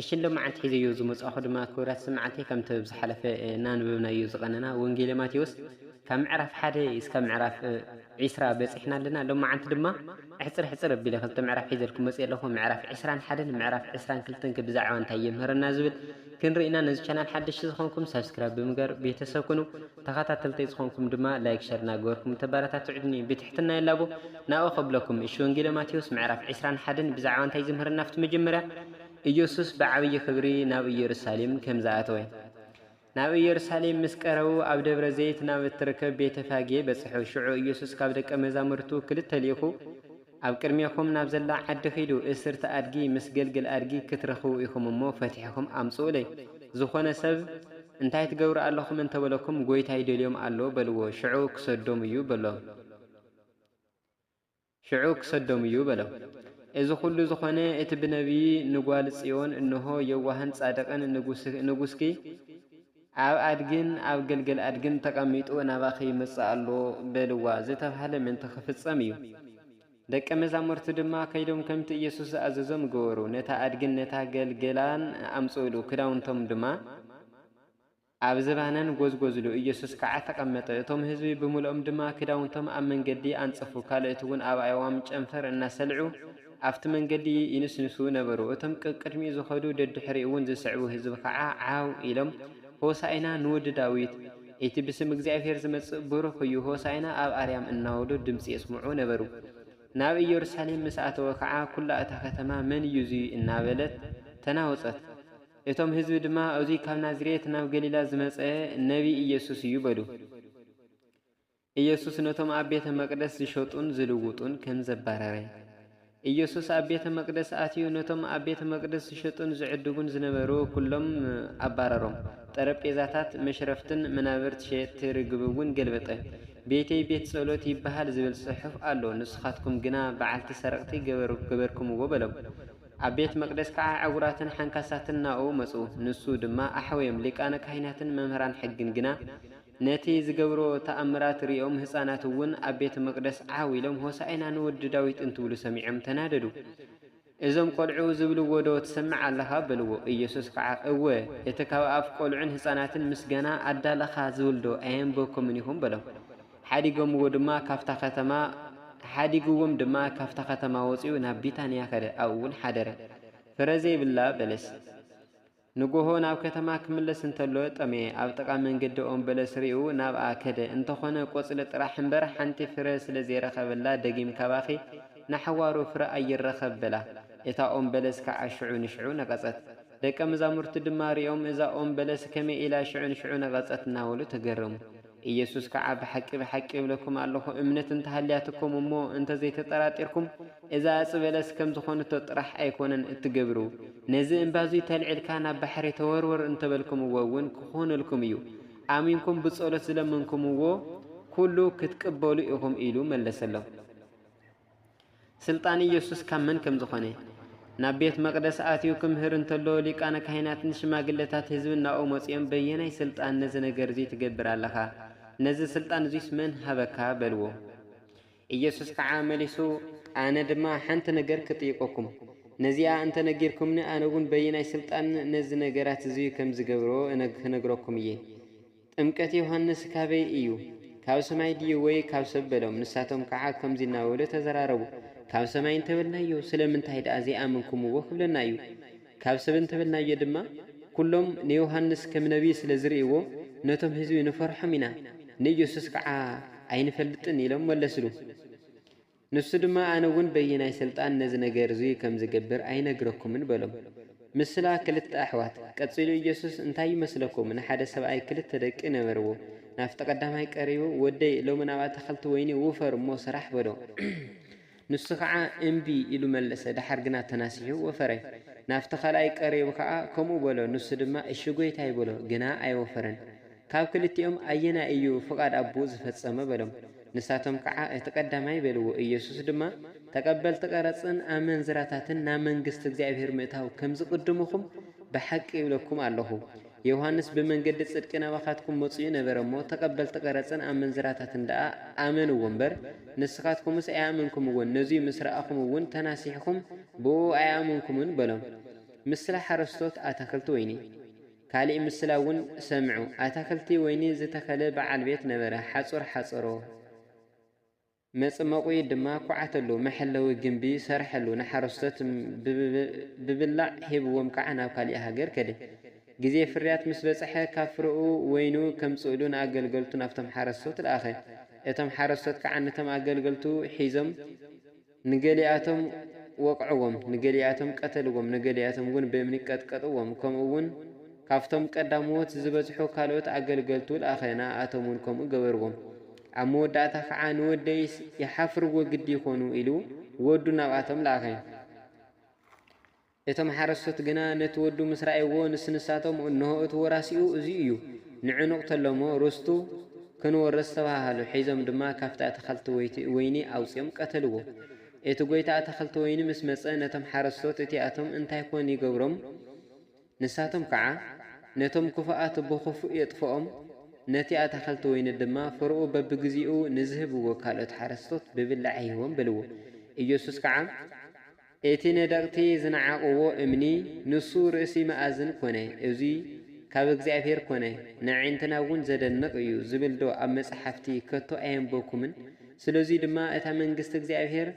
እሺ ሎማዓንቲ ሒዘዮ ዝመጻእኩ ድማ ክብራት ስማዕቲ ከምቲ ኣብ ዝሓለፈ እናንበብናዮ ዝቐነና ወንጌለ ማቴዎስ ካብ ምዕራፍ ሓደ እስካብ ምዕራፍ ዕስራ በጺሕና ኣለና ሎማዓንቲ ድማ ኣሕጽር ኣሕጽር ኣቢለ ክልተ ምዕራፍ ሒዘልኩም መጺኤ ኣለኹ ምዕራፍ ዕስራን ሓደን ምዕራፍ ዕስራን ክልተን ከ ብዛዕባ እንታይ የምህረና ዝብል ክንርኢ ኢና ነዚ ቻናል ሓደሽቲ ዝኾንኩም ሳብስክራይብ ብምግባር ቤተሰብ ኩኑ ተኻታተልተይ ዝኾንኩም ድማ ላይክ ሸር እናገበርኩም እንተባራታትዑኒ ብትሕትና ይላቦ ናብኦ ከብለኩም እሺ ወንጌለ ማቴዎስ ምዕራፍ ዕስራን ሓደን ብዛዕባ እንታይ ዝምህረና ኣብቲ መጀመርያ ኢየሱስ ብዓብዪ ኽብሪ ናብ ኢየሩሳሌም ከም ዝኣተወ። ናብ ኢየሩሳሌም ምስ ቀረቡ ኣብ ደብረ ዘይት ናብ እትርከብ ቤተ ፋጌ በጽሑ። ሽዑ ኢየሱስ ካብ ደቀ መዛሙርቱ ክልተ ልኢኹ፣ ኣብ ቅድሜኹም ናብ ዘላ ዓዲ ኺዱ፣ እስርቲ ኣድጊ ምስ ገልግል ኣድጊ ክትረኽቡ ኢኹም እሞ፣ ፈቲሕኹም ኣምጽኡለይ። ዝኾነ ሰብ፣ እንታይ ትገብሩ ኣሎኹም እንተ በለኩም፣ ጐይታ ይደልዮም ኣሎ በልዎ፣ ሽዑ ክሰዶም እዩ በሎም። ሽዑ ክሰዶም እዩ በሎም። እዚ ዅሉ ዝዀነ እቲ ብነብዪ ንጓል ጽዮን እንሆ፣ የዋህን ጻድቕን ንጉስኪ ኣብ ኣድግን ኣብ ግልገል ኣድግን ተቐሚጡ ናባኺ ይመጽእ ኣሎ በልዋ ዝተባህለ ምእንቲ ኽፍጸም እዩ። ደቀ መዛሙርቱ ድማ ከይዶም ከምቲ ኢየሱስ ዝኣዘዞም ገበሩ፣ ነታ ኣድግን ነታ ገልገላን ኣምጽኡሉ፣ ክዳውንቶም ድማ ኣብ ዝባነን ጎዝጎዝሉ ኢየሱስ ከኣ ተቐመጠ፣ እቶም ህዝቢ ብምልኦም ድማ ክዳውንቶም ኣብ መንገዲ ኣንጸፉ፣ ካልኦትውን ኣብ ኣእዋም ጨንፈር እናሰልዑ ኣብቲ መንገዲ ይንስንሱ ነበሩ፣ እቶም ቀቅድሚኡ ዝኸዱ ደድሕሪኡውን ዝስዕቡ ህዝቢ ኸኣ ዓው ኢሎም ሆሣእና ንወዲ ዳዊት፣ እቲ ብስም እግዚኣብሔር ዝመጽእ ብሩኽ እዩ፣ ሆሣእና ኣብ ኣርያም እናበሉ ድምጺ የስምዑ ነበሩ፣ ናብ ኢየሩሳሌም ምስ ኣተወ ኸኣ ኵላ እታ ከተማ መን እዩ እዙይ እናበለት ተናወጸት። እቶም ህዝቢ ድማ፣ እዙይ ካብ ናዝሬት ናብ ገሊላ ዝመጸ ነቢይ ኢየሱስ እዩ በሉ። ኢየሱስ ነቶም ኣብ ቤተ መቅደስ ዝሸጡን ዝልውጡን ከም ዘባረረ። ኢየሱስ ኣብ ቤተ መቅደስ ኣትዩ ነቶም ኣብ ቤተ መቅደስ ዝሸጡን ዝዕድጉን ዝነበሩ ኩሎም ኣባረሮም። ጠረጴዛታት መሽረፍትን መናብርት ሸየጥቲ ርግብ እውን ገልበጠ። ቤተይ ቤት ጸሎት ይበሃል ዝብል ጽሑፍ ኣሎ፣ ንስኻትኩም ግና በዓልቲ ሰረቅቲ ገበርኩምዎ በሎም። ኣብ ቤት መቅደስ ከኣ ዕውራትን ሓንካሳትን ናብኡ መጹ፣ ንሱ ድማ ኣሕወዮም፣ ሊቃነ ካህናትን መምህራን ሕግን ግና ነቲ ዝገብሮ ተኣምራት ርእዮም ህጻናት እውን ኣብ ቤተ መቅደስ ዓው ኢሎም ሆሣእና ንወዲ ዳዊት እንትብሉ ሰሚዖም ተናደዱ፣ እዞም ቆልዑ ዝብልዎዶ ትሰምዕ ኣለኻ? በልዎ፣ ኢየሱስ ከኣ እወ እቲ ካብ ኣፍ ቆልዑን ህጻናትን ምስጋና ኣዳለኻ ዝብልዶ ኣየንበብኩምን ኢኹም? በሎም። ሓዲጎምዎ ድማ ካብታ ከተማ ሓዲግዎም ድማ ካብታ ከተማ ወጺኡ ናብ ቢታንያ ከደ፣ ኣብኡውን ሓደረ። ፍረ ዘይብላ በለስ። ንጎሆ ናብ ከተማ ክምለስ እንተሎ ጠመየ፣ ኣብ ጥቓ መንገዲ ኦም በለስ ርእዩ ናብኣ ከደ፣ እንተኾነ ቆጽሊ ጥራሕ እምበር ሓንቲ ፍረ ስለ ዘይረኸበላ ደጊም ካባኺ ንሓዋሩ ፍረ ኣይረኸብ በላ። እታ ኦም በለስ ከኣ ሽዑ ንሽዑ ነቐጸት። ደቀ መዛሙርቱ ድማ ርእዮም እዛ ኦም በለስ ከመይ ኢላ ሽዑ ንሽዑ ነቐጸት እናበሉ ተገረሙ። ኢየሱስ ከዓ ብሓቂ ብሓቂ እብለኩም ኣሎኹ እምነት እንተሃልያትኩም እሞ እንተዘይተጠራጢርኩም እዛ እፅ በለስ ከም ዝኾንቶ ጥራሕ ኣይኮነን እትገብሩ ነዚ እምባ እዙይ ተልዒልካ ናብ ባሕሪ ተወርወር እንተበልኩምዎ እውን ክኾነልኩም እዩ ኣሚንኩም ብፀሎት ዝለመንኩምዎ ኩሉ ክትቅበሉ ኢኹም ኢሉ መለሰሎም። ስልጣን ኢየሱስ ካብ መን ከም ዝኾነ ናብ ቤት መቅደስ ኣትዩ ክምህር እንተሎ ሊቃነ ካህናትን ሽማግለታት ህዝብን ናብኡ መጺኦም በየናይ ስልጣን ነዚ ነገር እዚ ትገብር ኣለኻ? ነዚ ስልጣን እዙይስ መን ሃበካ? በልዎ። ኢየሱስ ከዓ መሊሱ ኣነ ድማ ሓንቲ ነገር ክጥይቀኩም ነዚኣ እንተ ነጊርኩምኒ ኣነውን በየናይ ስልጣን ነዚ ነገራት እዙይ ከም ዝገብሮ ክነግረኩም እየ። ጥምቀት ዮሃንስ ካበይ እዩ? ካብ ሰማይ ድዩ ወይ ካብ ሰብ በሎም። ንሳቶም ከዓ ከምዙይ እናበሉ ተዘራረቡ። ካብ ሰማይ እንተበልናዮ ስለምንታይ ደኣ ዘይኣመንኩምዎ ክብለና እዩ። ካብ ሰብ እንተበልናዮ ድማ ኩሎም ንዮሃንስ ከም ነቢይ ስለ ዝርእይዎ ነቶም ህዝቢ ንፈርሖም ኢና፣ ንኢየሱስ ከዓ ኣይንፈልጥን ኢሎም መለስሉ። ንሱ ድማ ኣነ እውን በየናይ ስልጣን ነዚ ነገር እዙይ ከም ዝገብር ኣይነግረኩምን በሎም። ምስላ ክልተ ኣሕዋት። ቀጺሉ ኢየሱስ እንታይ ይመስለኩም ንሓደ ሰብኣይ ክልተ ደቂ ነበርዎ። ናብቲ ቀዳማይ ቀሪቡ ወደይ ሎሚ ናብ ኣታኽልቲ ወይኒ ውፈር እሞ ስራሕ በሎ። ንሱ ከዓ እምቢ ኢሉ መለሰ ደሓር ግና ተናሲሑ ወፈረ። ናብቲ ካልኣይ ቀሪቡ ከዓ ከምኡ በሎ ንሱ ድማ እሺ ጎይታይ በሎ ግና ኣይወፈረን። ካብ ክልቲኦም ኣየናይ እዩ ፍቓድ ኣቦኡ ዝፈጸመ? በሎም። ንሳቶም ከዓ እቲ ቀዳማይ በልዎ። ኢየሱስ ድማ ተቐበልቲ ቀረጽን ኣመንዝራታትን ናብ መንግሥቲ እግዚኣብሔር ምእታው ከም ዝቕድሙኹም ብሓቂ እብለኩም ኣሎኹ። ዮሐንስ ብመንገዲ ጽድቂ ናባኻትኩም መጺኡ ነበረ እሞ ተቐበልቲ ቀረጽን ኣመንዝራታትን ደኣ ኣመንዎ እምበር ንስኻትኩምስ ኣይኣመንኩምዎን ነዙይ ምስ ረኣኹም እውን ተናሲሕኩም ብእኡ ኣይኣመንኩምን በሎም። ምስላ ሓረስቶት ኣታኽልቲ ወይኒ። ካሊእ ምስላ እውን ሰምዑ፣ ኣታኽልቲ ወይኒ ዝተኸለ በዓል ቤት ነበረ፣ ሓፁር ሓፀሮ፣ መፅመቑኢ ድማ ኳዓተሉ፣ መሐለዊ ግምቢ ሰርሐሉ፣ ንሓረስቶት ብብላዕ ሂብዎም ከዓ ናብ ካሊእ ሃገር ከደ። ግዜ ፍርያት ምስ በፅሐ ካብ ፍረኡ ወይኑ ከምፅእሉ ንኣገልገልቱ ናብቶም ሓረስቶት ለኣኸ። እቶም ሓረስቶት ከዓ ነቶም ኣገልገልቱ ሒዞም። ንገሊኣቶም ወቕዕዎም፣ ንገሊኣቶም ቀተልዎም፣ ንገሊኣቶም ውን ብእምኒ ቀጥቀጥዎም፣ ከምኡ ውን ካብቶም ቀዳምዎት ዝበዝሑ ካልኦት ኣገልገልቱ ለኣኸ፣ ንኣኣቶም ውን ከምኡ ገበርዎም። ኣብ መወዳእታ ኸዓ ንወደይስ ይሓፍርዎ ግዲ ይኾኑ ኢሉ ወዱ ናብኣቶም ለኣኸ። እቶም ሓረስቶት ግና ነቲ ወዱ ምስ ረኣይዎ ንስንሳቶም እንሆ እቲ ወራሲኡ እዚ እዩ፣ ንዑ ንቕተሎ'ሞ ርስቱ ክንወርስ ተባሃሃሉ፣ ሒዞም ድማ ካብቲ ኣታኽልቲ ወይኒ ኣውጺኦም ቀተልዎ። እቲ ጎይታ ኣታኽልቲ ወይኒ ምስ መጸ ነቶም ሓረስቶት እቲኣቶም እንታይ ኮን ይገብሮም ንሳቶም ከኣ ነቶም ክፉኣት ብኽፉእ የጥፍኦም ነቲ ኣታኽልቲ ወይኒ ድማ ፍረኡ በብግዜኡ ንዝህብዎ ካልኦት ሓረስቶት ብብላዕ ይህቦም በልዎ። ኢየሱስ ከኣ። እቲ ነደቕቲ ዝነዓቕዎ እምኒ ንሱ ርእሲ መኣዝን ኮነ፣ እዚ ካብ እግዚኣብሄር ኮነ፣ ንኣዒንትናውን ዘደንቕ እዩ ዝብልዶ ኣብ መጻሕፍቲ ከቶ ኣየንበብኩምን? ስለዙይ ድማ እታ መንግስቲ እግዚኣብሄር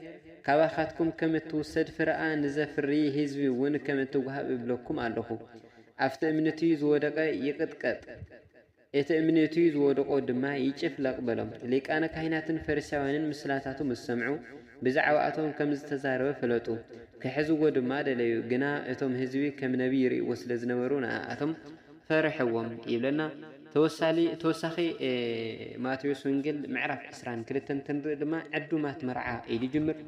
ካባኻትኩም ከም እትውሰድ ፍረኣ ንዘፍሪ ህዝቢውን ከም እትወሃብ እብለኩም ኣለኹ። ኣብቲ እምኒቲ ዝወደቐ ይቕጥቀጥ። እቲ እምኔቱ ዝወደቖ ድማ ይጭፍለቕ በሎም። ሊቃነ ካህናትን ፈሪሳውያንን ምስላታቱ ምስ ሰምዑ፣ ብዛዕባኣቶም ከም ዝተዛረበ ፈለጡ። ኪሕዝዎ ድማ ደለዩ፣ ግና እቶም ህዝቢ ከም ነብዪ ይርእይዎ ስለ ዝነበሩ ንኣኣቶም ፈርሕዎም። ይብለና። ተወሳሊ ተወሳኺ ማቴዎስ ወንጌል ምዕራፍ ዕስራን ክልተን ክንርኢ ድማ ዕዱማት መርዓ ኢሉ ይጅምር።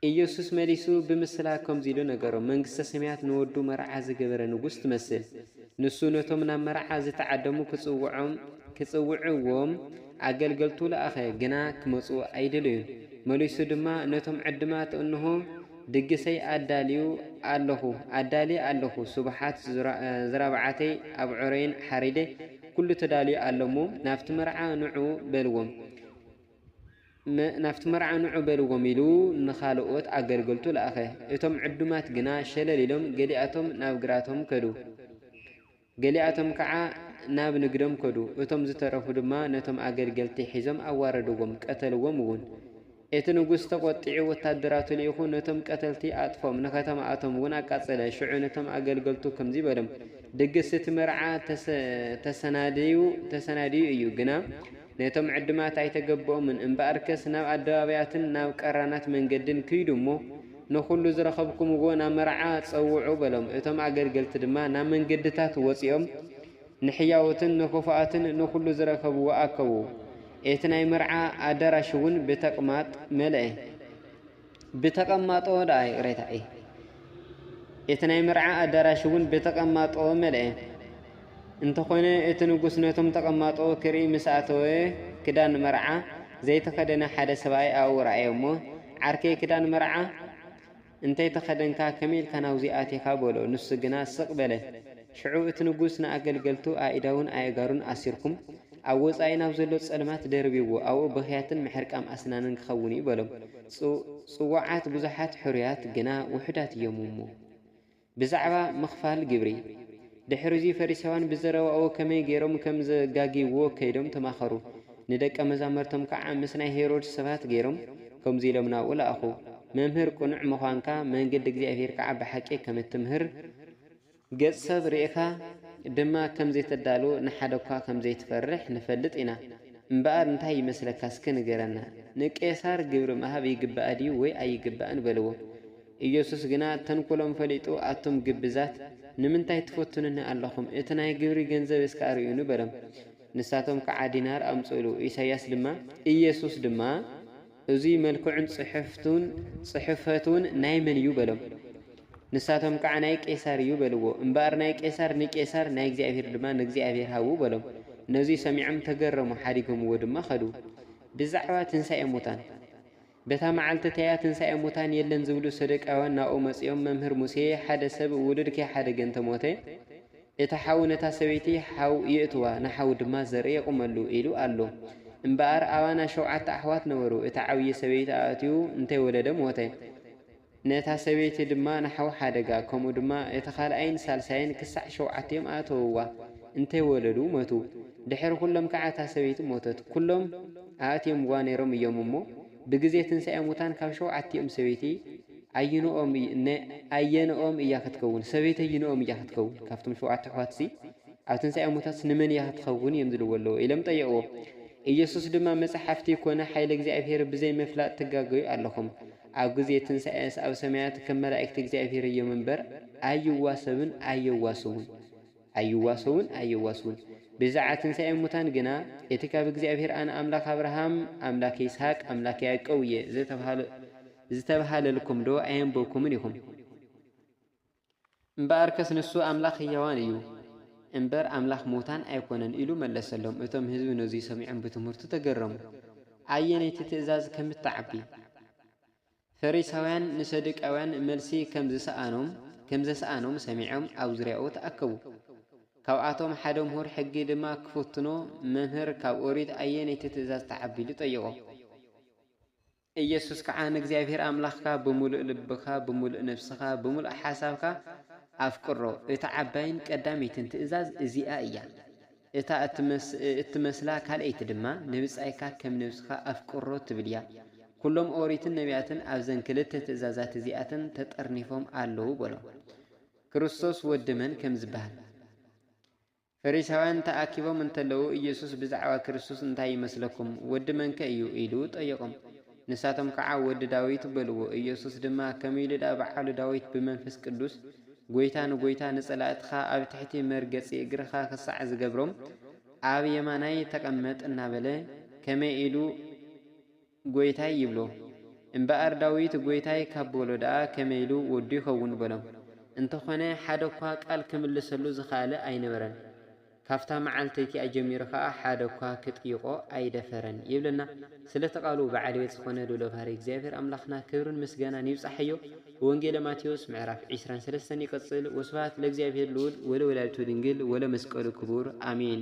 ኢየሱስ መሊሱ ብምስላ ከምዚ ኢሉ ነገሮም፣ መንግስተ ሰማያት ንወዱ መርዓ ዝገበረ ንጉሥ ትመስል። ንሱ ነቶም ናብ መርዓ ዝተዓደሙ ክጽውዖም ክጽውዕዎም ኣገልገልቱ ለኣኸ፣ ግና ክመጹ ኣይደለዩን። መሊሱ ድማ ነቶም ዕድማት እንሆ ድግሰይ ኣዳልዩ ኣለኹ ኣዳልየ ኣለኹ፣ ስቡሓት ዝራብዓተይ ኣብዑረይን ሓሪደ ኩሉ ተዳልዩ ኣሎ እሞ ናብቲ መርዓ ንዑ በልዎም። ናብቲ መርዓ ንዑ በልዎም ኢሉ ንኻልኦት ኣገልገልቱ ለኣኸ። እቶም ዕዱማት ግና ሸለል ኢሎም ገሊኣቶም ናብ ግራቶም ከዱ፣ ገሊኣቶም ከዓ ናብ ንግዶም ከዱ፣ እቶም ዝተረፉ ድማ ነቶም ኣገልገልቲ ሒዞም ኣዋረድዎም፣ ቀተልዎም እውን። እቲ ንጉስ ተቖጢዑ ወታደራቱ ልኢኹ ነቶም ቀተልቲ ኣጥፍኦም፣ ንከተማኣቶም እውን ኣቃጸለ። ሽዑ ነቶም ኣገልገልቱ ከምዚ በሎም፣ ድግስ እቲ መርዓ ተሰናድዩ እዩ፣ ግና ነቶም ዕድማት ኣይተገብኦምን እምበኣርከስ ናብ ኣደባባያትን ናብ ቀራናት መንገድን ክይዱ እሞ ንዅሉ ዝረኸብኩምዎ ናብ መርዓ ጸውዑ በሎም። እቶም ኣገልገልቲ ድማ ናብ መንገድታት ወጺኦም ንሕያዎትን ንኽፉኣትን ንዅሉ ዝረኸብዎ ኣከቡ። እቲ ናይ መርዓ ኣደራሽውን ብተቅማጥ መልአ። ብተቐማጦ ደኣ ይቕሬታ እይ። እቲ ናይ መርዓ ኣዳራሽ እውን ብተቐማጦ መልአ። እንተኾነ እቲ ንጉስ ነቶም ተቐማጦ ክርኢ ምስ ኣተወ ክዳን መርዓ ዘይተኸደነ ሓደ ሰብኣይ ኣብኡ ረኣየ እሞ ዓርከይ ክዳን መርዓ እንተይተኸደንካ ከመይ ኢልካ ናብዙይ ኣቲኻ በሎ ንሱ ግና ስቕ በለ። ሽዑ እቲ ንጉስ ንኣገልገልቱ ኣኢዳዉን ኣእጋሩን ኣሲርኩም ኣብ ወጻኢ ናብ ዘሎ ጸልማት ደርብይዎ፣ ኣብኡ ብኽያትን ምሕርቃም ኣስናንን ክኸውን እዩ በሎም። ጽውጽዋዓት ብዙሓት ሕሩያት ግና ውሑዳት እዮም እሞ። ብዛዕባ ምኽፋል ግብሪ። ድሕርዚ ፈሪሳውያን ብዘረባኡ ከመይ ገይሮም ከም ዘጋግይዎ ከይዶም ተማኸሩ። ንደቀ መዛምርቶም ከኣ ምስ ናይ ሄሮድስ ሰባት ገይሮም ከምዚ ኢሎም ናብኡ ለኣኹ፣ መምህር ቅኑዕ ምዃንካ፣ መንገዲ እግዚኣብሄር ከኣ ብሓቂ ከም እትምህር፣ ገጽ ሰብ ርኢኻ ድማ ከም ዘይተዳሉ ንሓደኳ ከም ዘይትፈርሕ ንፈልጥ ኢና እምበኣር እንታይ ይመስለካ እስከ ንገረና ንቄሳር ግብሪ ምሃብ ይግባእ ድዩ ወይ ኣይግባእን በልዎ ኢየሱስ ግና ተንኮሎም ፈሊጡ ኣቱም ግብዛት ንምንታይ ትፈትኑኒ ኣለኹም እቲ ናይ ግብሪ ገንዘብ እስከ ኣርእዩኒ በሎም ንሳቶም ከዓ ዲናር ኣምጽእሉ ኢሳይያስ ድማ ኢየሱስ ድማ እዙይ መልክዑን ጽሕፍቱን ጽሕፈቱን ናይ መን እዩ በሎም። ንሳቶም ከዓ ናይ ቄሳር እዩ በልዎ። እምበኣር ናይ ቄሳር ንቄሳር ናይ እግዚኣብሔር ድማ ንእግዚኣብሔር ሃቡ በሎም። ነዙይ ሰሚዖም ተገረሙ፣ ሓዲጎምዎ ድማ ኸዱ። ብዛዕባ ትንሣኤ ሙታን በታ መዓልቲ እቲኣ ትንሣኤ ሙታን የለን ዝብሉ ሰዱቃውያን ናብኡ መጺኦም መምህር ሙሴ ሓደ ሰብ ውሉድኪ ሓደ ገንተ ሞተ፣ እቲ ሓው ነታ ሰበይቲ ሓው የእትዋ፣ ንሓው ድማ ዘርኢ የቑመሉ ኢሉ ኣሎ። እምበኣር ኣባና ሸውዓተ ኣሕዋት ነበሩ፣ እቲ ዓብዪ ሰበይቲ ኣእትዩ እንተይወለደ ሞተ። ነታ ሰበይቲ ድማ ንሓው ሓደጋ፣ ከምኡ ድማ እቲ ካልኣይን ሳልሳይን ክሳዕ ሸውዓቲኦም ኣእተውዋ፣ እንተይወለዱ መቱ። ድሕሪ ኩሎም ከዓ እታ ሰበይቲ ሞተት። ኩሎም ኣእቲዮምዋ ነይሮም እዮም እሞ፣ ብግዜ ትንሣኤ ሙታን ካብ ሸውዓቲኦም ሰበይቲ ኣየንኦም እዩ ን ኣየንኦም እያ ክትከውን ሰበይቲ ኣይንኦም እያ ክትከውን ካብቶም ሸውዓተ ኣሕዋትሲ ኣብ ትንሳኤ ሙታትስ ንመን እያ ክትኸውን እዮም ዝልዎ ኣለዉ ኢሎም ጠየቅዎ ኢየሱስ ድማ መጽሓፍቲ ኮነ ሓይለ እግዚኣብሔር ብዘይ ምፍላጥ ትጋገዩ ኣለኹም ኣብ ግዜ ትንሳኤስ ኣብ ሰማያት ከም መላእክቲ እግዚኣብሔር እዮም እምበር ኣይዋሰብን ኣየዋስውን ኣይዋሰውን ኣየዋስውን ብዛዕባ ትንሳኤ ሙታን ግና እቲ ካብ እግዚኣብሔር ኣነ ኣምላኽ ኣብርሃም ኣምላክ ይስሐቅ ኣምላክ ያዕቆብ እየ ዘተብሃለ ዝተብሃለልኩም ዶ ኣየንበብኩምን ኢኹም? እምበኣርከስ ንሱ ኣምላኽ ህያዋን እዩ እምበር ኣምላኽ ምዉታን ኣይኰነን ኢሉ መለሰሎም። እቶም ህዝቢ ነዙይ ሰሚዖም ብትምህርቱ ተገረሙ። ኣየነይቲ ትእዛዝ ከም እትዓቢ። ፈሪሳውያን ንሰዱቃውያን መልሲ ከም ዝሰኣኖም ከም ዘስኣኖም ሰሚዖም ኣብ ዙርያኡ ተኣከቡ። ካብኣቶም ሓደ ምሁር ሕጊ ድማ ክፍትኖ መምህር ካብ ኦሪት ኣየነይቲ ትእዛዝ ትዓቢ ኢሉ ጠየቖ። ኢየሱስ ከዓ ንእግዚኣብሔር ኣምላኽካ ብምሉእ ልብኻ፣ ብምሉእ ነፍስኻ፣ ብምሉእ ሓሳብካ ኣፍቅሮ። እታ ዓባይን ቀዳመይትን ትእዛዝ እዚኣ እያ። እታ እትመስላ ካልኣይቲ ድማ ንብጻይካ ከም ነብስኻ ኣፍቅሮ ትብል እያ። ኵሎም ኦሪትን ነቢያትን ኣብዘን ክልተ ትእዛዛት እዚኣተን ተጠርኒፎም ኣለዉ በሎም። ክርስቶስ ወዲ መን ከም ዝበሃል። ፈሪሳውያን ተኣኪቦም እንተለዉ ኢየሱስ ብዛዕባ ክርስቶስ እንታይ ይመስለኩም? ወዲ መንከ እዩ? ኢሉ ጠየቖም። ንሳቶም ከዓ ወዲ ዳዊት በልዎ። ኢየሱስ ድማ ከምይ ኢሉ ድኣ በዓሉ ዳዊት ብመንፈስ ቅዱስ ጐይታ ንጐይታ ንጸላእትኻ ኣብ ትሕቲ መርገጺ እግርኻ ክሳዕ ዝገብሮም ኣብ የማናይ ተቐመጥ እናበለ ከመይ ኢሉ ጐይታይ ይብሎ። እምበኣር ዳዊት ጐይታይ ካብ በሎ ደኣ ከመይ ኢሉ ወዱ ይኸውን በሎም። እንተኾነ ሓደ እኳ ቃል ክምልሰሉ ዝኸኣለ ኣይነበረን። ካብታ መዓልተይቲ ኣጀሚሩ ከኣ ሓደ እኳ ክጥይቖ ኣይደፈረን ይብለና። ስለቲ ቃሉ በዓል ቤት ዝኾነ ልኡለ ባህርይ እግዚኣብሔር ኣምላኽና ክብርን ምስጋናን ይብጻሓዮ። ወንጌለ ማቴዎስ ምዕራፍ ዕስራን ሰለስተን ይቅጽል ወስብሃት ለእግዚኣብሔር ልኡል ወለወላዲቱ ድንግል ወለመስቀሉ ክቡር ኣሜን።